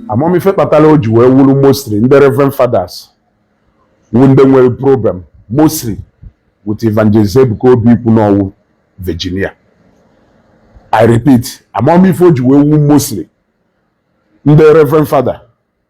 amaghị m ife kpatara o ji wee wụrụ mostly ndị reverend fathers wụ ndị nwere problem mostly with evangelist ebuka obi ikwu n'ọ wụ virgin i repeat amaghị m ife o ji wee wụ mostly ndị reverend father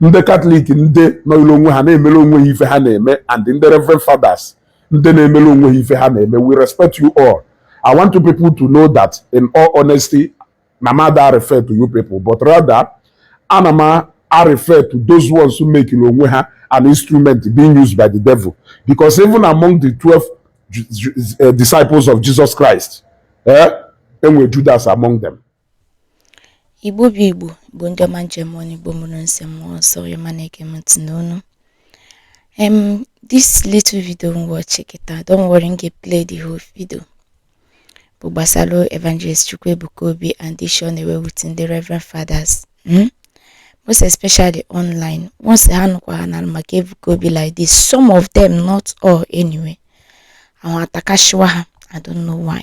ndị katọlik ndị nọọlụ onwe ha na-emere onwe ha ife ha na-eme and ndị reverend fathers ndị na-emere onwe ha ife ha na-eme we respect you all i want you people to know that in all honesty na m ada refer to you people but rather ana m a refer to those ones who makelụ onwe ha an instrument being used by the devil because even among the 12 eh, disciples of jesus christ eh, e nwere judas among them Igbo bụ Igbo, Igbo ndị ọma m ji eme ọnụ, Igbo mụrụ nsị mmụọ nsọ, onye ma na-ege m ntị nnọọ nụ. Um, this little video m watch kịta, don't worry, m ga-play the whole video. Bụ gbasara Evangelist Chukwuebuka Obi and the issue ọ na-enwe with ndị Reverend Fathers. Hmm? Most especially online. Once ha nụkwa ha na maka Ebuka Obi like this, some of them, not all anyway. Ahụ atakashiwa ha, I don't know why.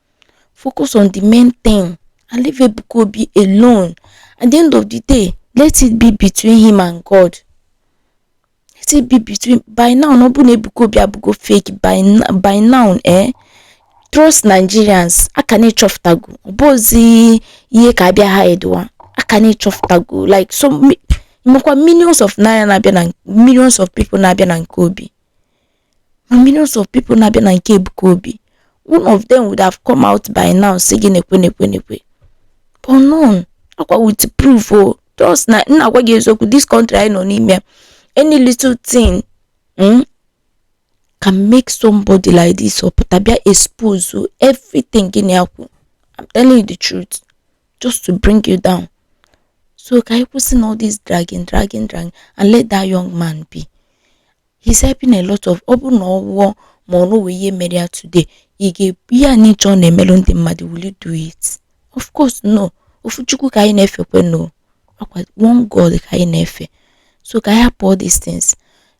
Focus on the main thing and leave Ebuka Obi alone. At the end of the day, let it be between him and God. Let it be between by now ọ bụ na Ebuka Obi abụgo fake by, by now eh trust Nigerians a ka na-achọfụtago ọ bụ ozi ihe ka abịa ha edowa a ka na-achọfụtago like so mmekwa millions of naira na-abịa na millions of people na-abịa na nke Obi ma millions of people na-abịa na nke Ebuka Obi one of them would have come out by now sị gị nekwe nekwe nekwe but none ọ kwa with proof o just na m na-agwa gị eziokwu this country anyị nọ n'ime ya, any little thing mm, can make somebody like this apụta bịa expose o, everything gị na-akwụ I'm telling you the truth just to bring you down so ka anyị kwụsị na all this dragging dragging dragging and let that young man be he's helping a lot of ọ bụrụ na ọ nwụọ ma o nwee ihe mere ya today ị ga-eme ihe ncha ọ na-emelụ ndị mmadụ will you do it of course no ofu chukwu ka anyị na-efekwanụ ọ kwa one god ka anyị na-efe so ka anyị hapụ all these things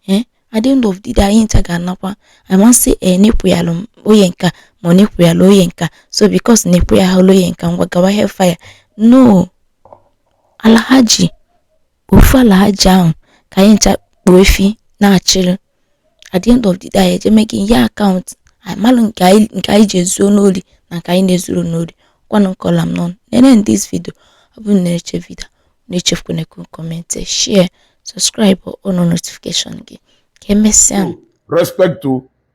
eh at the end of the day anyị ncha ga-anakwa i wan say eh na ị kwuyalụ onye nka ma ọ na ị kwuyalụ onye nka so because na ị kwuyalụ onye nka ngwa gawa hellfire no ala aja ofu ala aja ahụ ka anyị ncha kpuo efi na-achịrị at the end of the day anyị eje make-ie account anyị malụ nke anyị nke anyị ji ezuo n'ori na nke anyị na-ezurọ n'ori kwanụ nkọla m n'ọnụ nene m this video ọ bụrụ na ị nechaa video a echefukwana ị comment share subscribe on notification gị ka emesịa respect to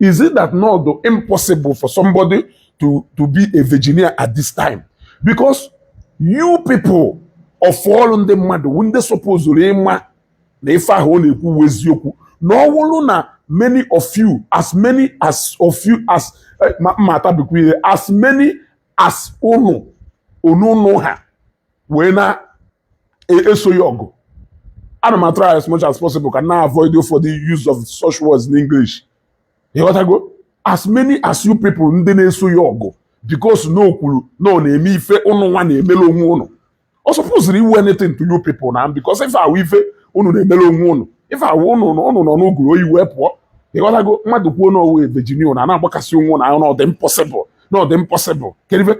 is it that na ọ dụ impossible for somebody to to be a virginia at this time because you people of all ndị mmadụ wụ ndị sopozuru ịma na ife ahụ ọ na-ekwu wụ eziokwu na ọ wụrụ na many of you as many as of you as eh, ma atabikwa ihe as many as unu unu ha wee na e, eso ya ọgụ ana m atry as much as possible ka m na-avoid ụfọdụ use of such words in English ịghọtago as many as you people ndị na-eso ya ọgụ because na o kwuru na ọ na-eme ife ụnụ nwa na-emere onwe ụnụ ọ sopoziri ịwụ anything to you people na because ife a wụ ife ụnụ na-emere onwe ụnụ ife a wụ ụnụ ụnụ nọ n'uguru oyi wee pụọ ịghọtago mmadụ kwuo na ọ wụ a Virginia na na-agbakasị onwe na ọ dị impossible na ọ dị impossible kedu ife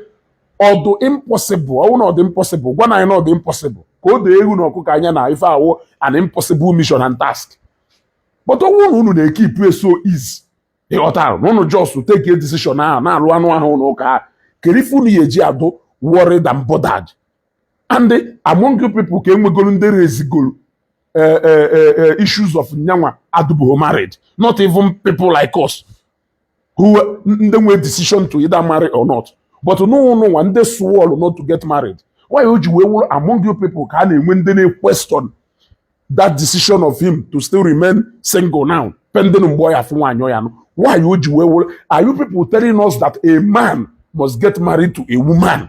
ọ dụ impossible ọ wụ na ọ dụ impossible gwanụ anyị na ọ dụ impossible ka o doo ewu na ọkụkọ anya na ife a wụ an impossible mission and task but ọ wụ na unu na-ekipu ya so easy ịghọtara na unu just take a decision ahụ na-alụ anụ ahụ n'ụka kedu ife unu ya-eji adụ worried and bothered and among you people ka e nwegoro ndị rezigoro eh, eh, eh, issues of yanwa adụbụghị married not even people like us wụ ndị nwee decision to either marry or not but n'ụnụnwa ndị swọlụ not to get married why o ji wee wụrụ among you people ka a na-enwe ndị na-equestion that decision of him to still remain single now pending mgbe ọ ya-afụ nwaanyị ọ ya-anụ why o ji wee wụrụ are you people telling us that a man must get married to a woman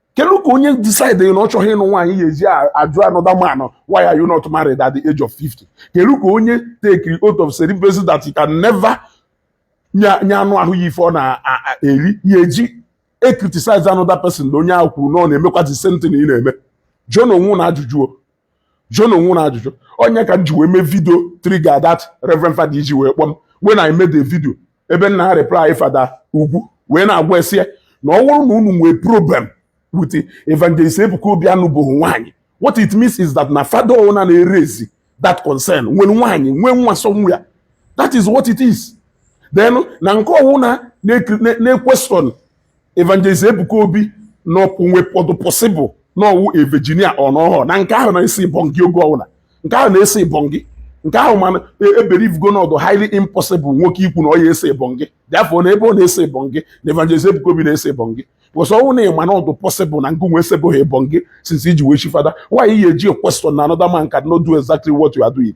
kedu ka onye decide na ọ chọghị ịnụ nwaanyị ya-eji ajụ another man why are you not married at the age of 50 kedu ka onye tekiri oath of celibacy that he can never nye anụ ahụ ya ife ọ na-eri ya-eji ecriticize another person na onye ahụ kwuru na ọ na-emekwa the same thing ị na-eme jụọnụ onwe unu ajụjụ jụọnụ onwe unu ajụjụ onye ka m ji wee mee vidio trigger that reverend fada iji wee kpọọ m when I made a video ebe m na-areply fada ugwu wee na-agwa ya sị ya na ọ wụrụ na unu nwee problem with evangelist Ebuka Obi anụbụghị nwaanyị what it means is that na fada ọwụna na-erezi that concern nwere nwaanyị nwee nwa somewhere that is what it is then na nke ọwụna na-equestion Evangelist Ebuka Obi na o nwe ọ dụ possible na ọ wụ a Virginia ọnọhọ na nke ahụ na-esi bongi oge ọbụla nke ahụ na-esi bongi nke ahụ mana ebelievego na ọ dụ highly impossible nwoke ikwu na ọ ya-ese bongi therefore na ebe ọ na-ese bongi na Evangelist Ebuka Obi na-ese bongi because ọ wụ na ị ma na ọ dụ possible na gịnwa esebụghị bongi since i ji wee chie fada why ị ya-eji equestion na another man cannot do exactly what you are doing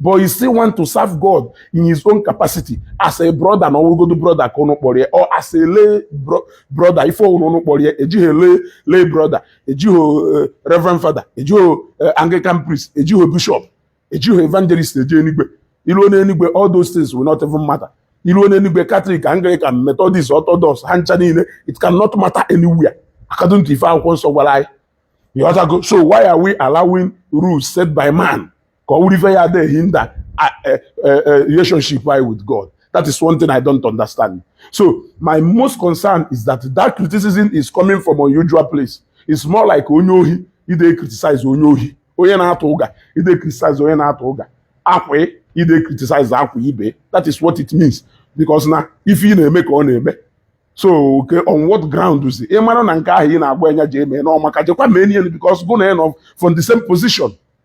but he still want to serve God in his own capacity as a brother na ọ wụgodu brother ka ụnụ kpọrọ ya or as a lay brother ife ọ wụrụ ụnụ kpọrọ ya ejighị lay lay brother ejighị eh, reverend father ejighị eh, anglican priest ejighị bishop ejighị evangelist eje enigwe i ruo n'enigwe all those things will not even matter i ruo n'enigwe catholic anglican methodist orthodox ha ncha niile it can not matter anywhere according to ife akwụkwọ nsọ gwara anyị so why are we allowing rules set by man ka ọ wụrụ ife ya dey hinder uh, uh, uh, relationship anyị with God. That is one thing I don't understand. So my most concern is that that criticism is coming from unusual place. It's more like onye ohi ide criticize onye ohi onye na-atụ ụga ide criticize onye na-atụ ụga akwa ide criticize akwa ibe that is what it means because na ife ị na-eme ka ọ na-eme so okay, on what ground is ị mara na nke ahụ ị na-agwa anya ji eme na ọ maka jekwa mee niile because gụ na ya nọ from the same position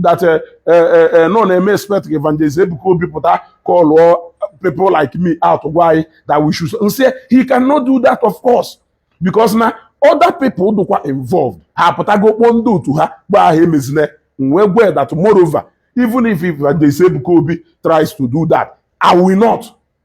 that eh, eh, eh, na ọ na-eme expect evangelist Ebuka Obi pụta call people like me out gwa anyị that we should m sị he cannot do that of course because na other people dụkwa involved ha apụtago kpọọ ndị otu ha gwa ha emezine wee gwe that moreover even if evangelist Ebuka Obi tries to do that I will not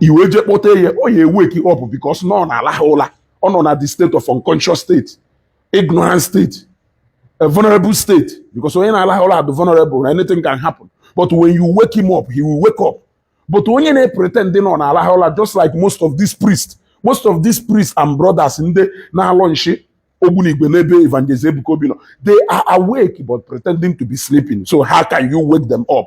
i wee jee kpọte ya ọ ya e-wake up because na ọ na-alaha ụla ọ nọ na the state of unconscious state ignorant state a vulnerable state because onye na-alaha ụla bụ vulnerable na anything can happen but when you wake him up he will wake up but onye na-pretend na ọ na-alaha ụla just like most of these priests most of these priests and brothers ndị na-alọ nshi ogbunigwe n'ebe evangelist ebuka obi nọ they are awake but pretending to be sleeping so how can you wake them up